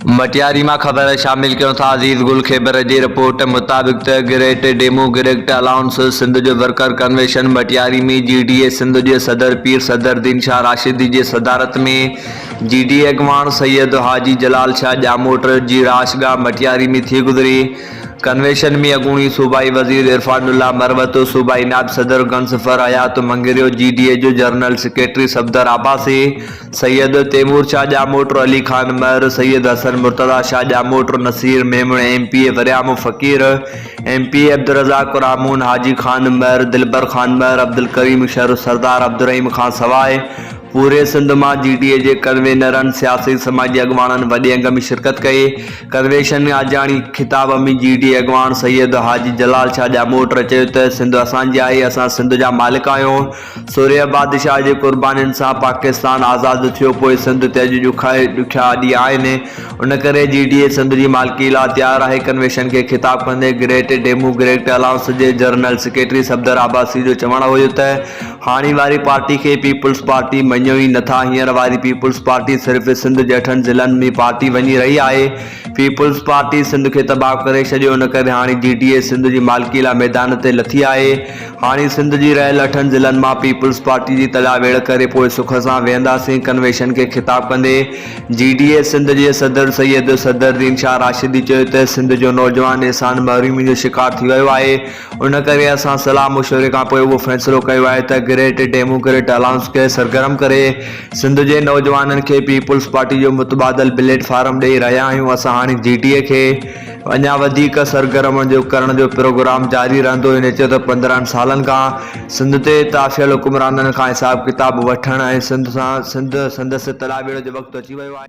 مٽياري مان خبر شامل ڪيون ٿا عزيز گل خيبر جي رپورٽ مطابق ته گريٽ ڊيموگريڪٽ الائونس سنڌ جو worker convention Matiari ۾ G D A Sindh جي صدر پير صدرالدين شاھ راشدي جي صدارت ۾ جي ڊي اي اڳواڻ سيد حاجي جلال شاھ ڄاموٽ جي رھائش گاھ مٽياري ۾ ٿي گذري ڪنويشن ۾ اڳوڻي صوبائي وزير عرفان الله مروت صوبائي نائب صدر گنصفر حيات مڱريو جي ڊي اي جو general secretary Safdar Abbasi Syed Taimur Shah Jamot, Ali Khan Mahar, Syed Hassan Murtaza Shah Jamot, Naseer Memon, M P A Waryamo Faqir, M P A Abdul Razzaq Pramon, Haji Khan Mahar, Dilbar Khan Mahar, Abdul Karim Shar, Sardar Abdul Rahim کان سواء پوري سنڌ مان جي ڊي اي جي ڪنوينرن، سياسي سماجي اڳواڻن وڏي انگ ۾ شرڪت ڪئي. ڪنويشن ۾ آجياڻي خطاب ۾ جي ڊي اي اڳواڻ سيد حاجي جلال شاهه ڄاموٽ چيو ته سنڌ اسان جي آهي، اسان سنڌ جا مالڪ آهيون، سورهيه بادشاهه جي قربانين سان پاڪستان آزاد ٿيو پوء سنڌ تي اڄ ڏکاء ڏکيا ڏينهن آهن ان ڪري جي ڊي اي سنڌ جي مالڪي لا تيار آهي ڪنويشن کي خطاب ڪندي گريٽ ڊيمو گريڪٽ الائنس جي جرنل سيڪريٽري صفدر عباسي جو چوڻ هيو ته هاڻي واري پارٽي کي پيپلز پارٽي مڃيو ئي نه ٿا هينئر واري پيپلز پارٽي صرف سنڌ جهٺن ضلعن ۾ پارٽي وڃي رهي آهي پيپلز پارٽي سنڌ کي تباهه ڪري ڇڏيو ان ڪري هاڻي جي ڊي اي سنڌ جي مالڪي لا ميدان تي لٿي آهي هاڻي سنڌ جي رهيل اٺن ضلعن مان پيپلز پارٽي جي تڏا ويڙهه ڪري پوء سک سان ويهنداسين ڪنويشن کي خطاب ڪندي جي ڊي اي سنڌ جي صدر سيد صدرالدين شاهه راشدي چيو ته سنڌ جو نوجوان احسان محرومي جو شڪار ٿي ويو آهي ان ڪري اسان صلاح مشوري کان پوء اهو فيصلو ڪيو آهي ته گريٽ ڊيموڪريٽ الائنس کي سرگرم ڪري سنڌ جي نوجوانن کي پيپلز پارٽي جو متبادل پليٽ فارم ڏئي رهيا آهيون اسان هاڻي جي ڊي اي کي اڃا وڌيڪ سرگرم ڪرڻ جو پروگرام جاري رهندو، هن چيو ته پندرهن سالن کان سنڌ تي تافهيل حڪمرانن کان حساب ڪتاب وٺڻ ۽ سنڌ سان سنڌ سندس تلا ٻيڙو جو وقت اچي ويو آهي.